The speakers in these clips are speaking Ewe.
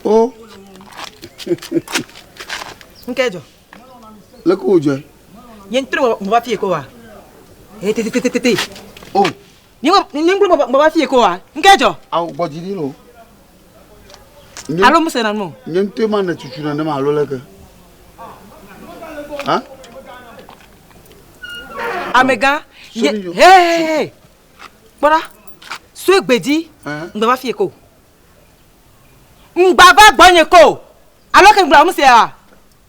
o nke jɔ leke wòdzɔe nye ŋutɔ meva fie ko wa tete o Nyinglu bɔbɔ fi ko wa. Nke jɔ. Awo gbɔ dzi ɖi no. Alo mu se na mo. Nye ŋutɔ ma ne tutu na ne ma alo le ke. Ha? Amega. Ye. Hey. Kpɔra. Sue gbedzi. Ngbe va fi ko. Ngba va gbɔ nye ko. Alo ke ngba mu se wa.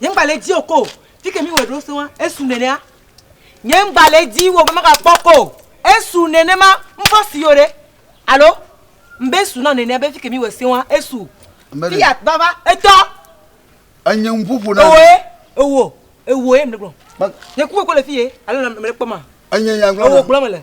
Nye ŋgba le edzi o ko. Fi ke míwɔe ɖo sẽŋa, esu nenea. Nye ŋgba le edzi o be magakpɔ ko. Esu nenema. Ŋfɔ si yo ɖe. Alo? Ŋbe esu na nenea be fi ke míwɔe sẽŋa, esu. Fiat vava. Etɔ. Enye nuƒoƒo na mi. Ewoe, ewo, ewoe mele gblɔ. Nye ku koko le fi ye alo mele kpɔma? Enye nya gblɔ na. Ewo gblɔ mele.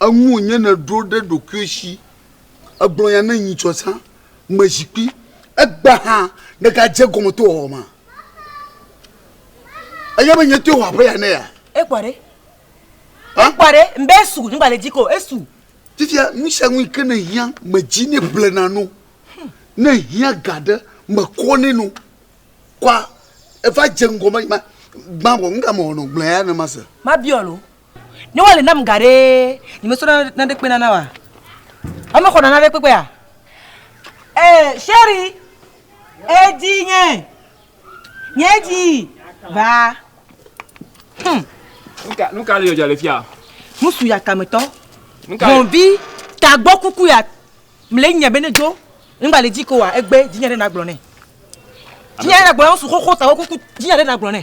Eŋu wònye nèɖo ɖe ɖokuiwò si, ègblɔ nya ne nyitsɔ zã me zikpui. Egbea hã nègadze egɔme to wòwɔwɔ mea? Ènya be nyetoe wɔ aƒe ya ne yea? Ekpɔ ɖe. Ekpɔ ɖe. Mbe esu, nyigbalẽ dzi ko, esu. Fifia, nu sia nu yi ke nèhiã, medzi nɛ blena no. Ne èhiã ga ɖe, mekɔ nɛ no. Kɔa, eva dze ŋgɔ be, ma, gbã vɔ, nu ka mewɔ nɔ? Gblɔ eya ne mase. Mabiɔ lo. Ne wale nam ga ɖee, nyemesɔ naneke kpena na wa. Ame xɔna naneke kpekpea? Eh, Sherry, edi nye, nye di, va. Hmm. Nuka, nuka le yɔdza le fia? Nusu ya tametɔ. Nuka? Hɔnvi, tagbɔ kuku ya, mle nya bene dzo, nba le dzi ko wa, egbe, dzinya ɖe nagblɔ ne. Dzinya ɖe nagblɔ ne, nusu xoxo tagbɔ kuku, dzinya ɖe nagblɔ ne.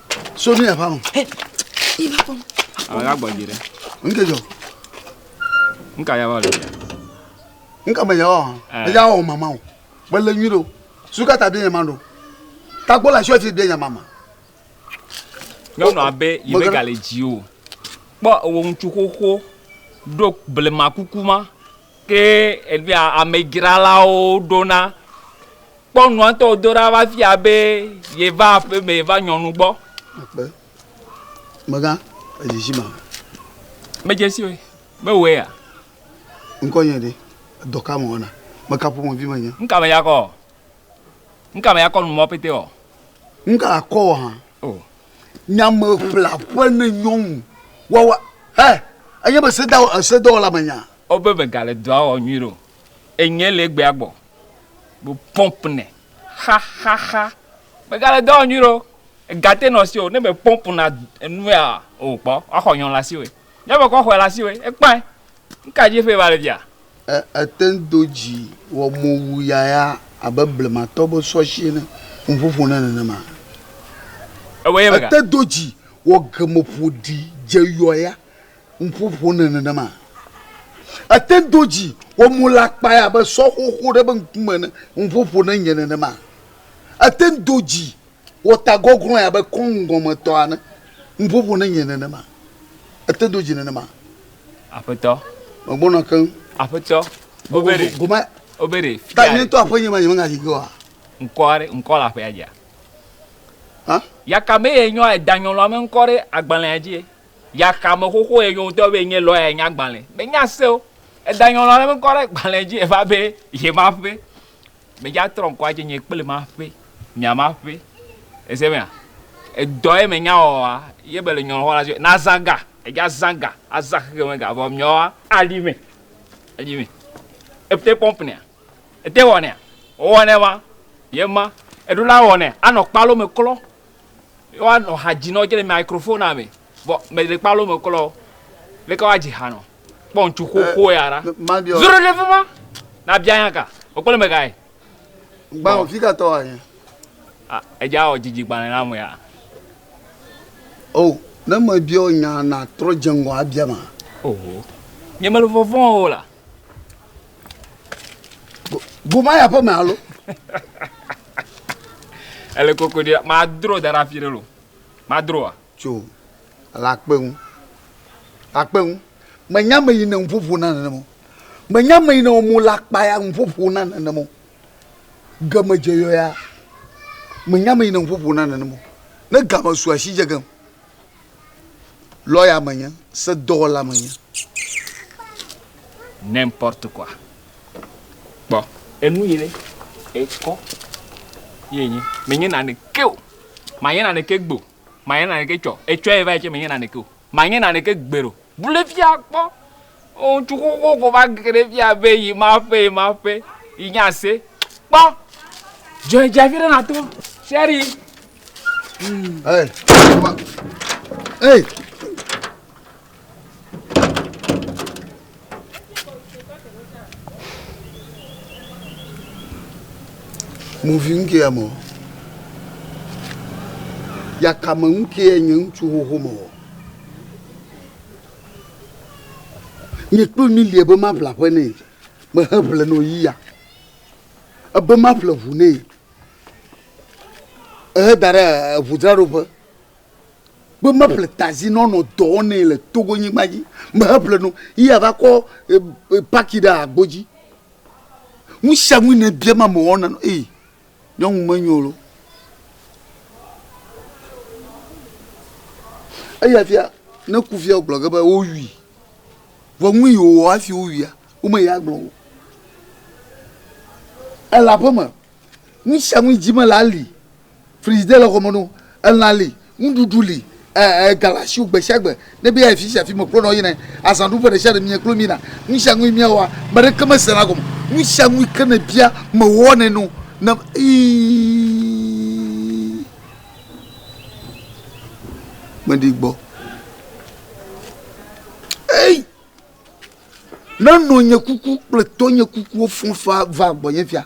So ne yava ŋu. Alaga gbɔdzi ɖe. Nke dzɔ. Nka yava le. Nka me yawa. Eya wɔ mama o. Mele nyui ɖo. Suka ta bia nyama ɖo. Takpo le asi ɔti bia nyama ma. Nyɔnu abe yi be gale dzi o. Kpɔ ewɔ ŋutsu xoxo ɖo blema kuku ma. Ke egbea amedzralawo ɖona, kpɔ nua ŋutɔ wòdo ɖa va fia be yeva aƒe me va nyɔnu gbɔ. Akpe. Megã, edzidzi ma. Medze si o. Mewɔe ya. Ŋkɔnye ɖe? Dɔ ka mewɔna? Meka ƒomevi menye? Nuka me ya kɔ? Nuka me ya kɔ nu mɔ pete ɔ? Nuka akɔ ɔ hã? O. Nyameƒleaƒe ne nyɔnu wawa. Hɛ! Enye be sedawɔ, sedɔwɔla menye a? Wo be me gale dɔa wɔ nyuiɖe o. Enyɛ le egbea gbɔ be pump nɛ xaxaxa. Me gale dɔ wɔ nyuiɖe o. Ega te nɔ asiwò ne me pump na enua o kpɔ wa xɔ nyɔ le asiwòe. Nyɔ me kɔ xɔɛ le asiwòe. Ekpãɛ. Ŋka dzi eƒe va le fia? E, etɛn do dzi wɔ mowu yaya abe blematɔ be sɔshi ene. Ŋu ƒoƒo ne nenema. Ewɔɛ ye mega. Ete do dzi wɔ gemeƒoɖi dze yɔya Ŋuƒo ƒonɛ nenema. Ete do dzi wɔ mo le akpae abe sɔ xoxo ɖe be ŋkume ene. Ŋuƒo ƒonɛ nye nenema. Ete do dzi wɔ ta gɔglɔe abe kɔŋ gɔme tɔ ene. Ŋuƒo ƒonɛ nye nenema. Ete do dzi nenema. Aƒetɔ. Megbɔna keŋ. Aƒetɔ. Obere. Gome. Obere. Ta nye ŋutɔ aƒe nye ma nye me ŋayi ge oa? Ŋkɔ aɖe ŋkɔ le aƒea dzia? Hã? Yaka be ye nyɔ edanyɔlɔa me ŋkɔ ɖe agbalẽa dzi. Yaxame xoxo ye nyo ŋutɔ be enye lɔya nya gbalẽ. Menya se o. Eda nyɔnua ɖe ŋkɔ ɖe gbalẽ dzi eva be ye ma ƒe. Me dza trɔ ŋkɔ adze nye kple ma ƒe. Mia ma ƒe. Ese mea? Edɔ ye me nya wɔa ye be le nyɔnua xɔ la dzi be na zã ga. Edza zã ga, azã xexeme ga vɔ miawoa aɖi me. Aɖi me. Ete pɔmp nɛa? Ete wɔ nɛa? Wowɔ nɛ ma. Ye ma. Eɖo la wɔ nɛ anɔ kpalo me klɔ. woanɔ ha dzi nɔ dze le microphonea me vɔ mele kpalo me klɔ leke woadzi ha nɔ kpɔ ŋutsu xoxo ya ɖa zoro ɖe fima na bia nya ka wokpɔ le mega ye gbalẽ fi ka tɔ anyi edza wɔ dzidzi gbalẽ na me ya o ne me bia o nya na trɔ dze ŋgɔ abia ma oho nye mele vɔvɔn o la goma ya ƒe me alo Ele koko ɖi. Madro da ɖe afi ɖe lo. Madroa? Tso le akpe ŋu. Akpe ŋu. Menye ame yi ne nuƒoƒo na nenema o. Menye ame yi ne wɔ mo le akpa ya nuƒoƒo na nenema o. Game dze yɔ ya. Menye ame yi ne nuƒoƒo na nenema o. Ne game su asi dze gem. lɔya menye, sedɔwɔla menye. N'importe quoi. Kpɔ. Enu yi ɖe ekɔ ye enye. Menye naneke o. Manye naneke gbe o. Manye naneke tsɔ. Etsɔe va yi tsɛ menye naneke o. Manye naneke gbeɖe o. Bu ɖe fia kpɔ. Ŋutsu xoxo ko va ge ɖe fia be yi ma ƒe yi ma ƒe yi nye ase. Kpɔ dzɔe dze afi ɖe na to sheri. Hey. Hey. Muvi ŋkɛ ya mɔ. Yakame ŋkɛ nye ŋutsu xoxo mɔ. Nye kple mi lia be maƒle aƒe nɛ. Mehe ƒle nɔ yi ya. Ebe maƒle ʋu nɛ. Ehe da ɖe ʋu dzra ɖo ƒe. Be maƒle tazi nɔ nɔ dɔ wɔ nɛ le Togo nyigba dzi. Mehe ƒle nɔ yi ya va kɔ paki ɖe agbo dzi. Nusianu yi ne bia ma me wɔ na nɔ ee. Nyɔnu menyo lo. Eya fia ne ku fia wogblɔ ge be wowui. Vɔ nu yi wòwɔ hafi wowuia, womeyi agblɔ o. Ele aƒeme. Nu sia nu yi dzi mele ali. Frigidaire le xɔme na wo. Elã li. Nuɖuɖu li, ɛɛ, ga le asiwò gbesiagbe. Ne be yeayi fisiafi mekplɔna wò yina. Azãɖuƒe ɖesiaɖe mie kplo mina. Nusianui miawɔa, meɖeke mesena gɔme o. Nusianui ke nèbia, mewɔnɛ nɛ o. Ne, ii, meɖi gbɔ. Ei! Ne nɔnye kuku kple tɔnye kukuwo fɔ̃ faa vaa gbɔnye fia.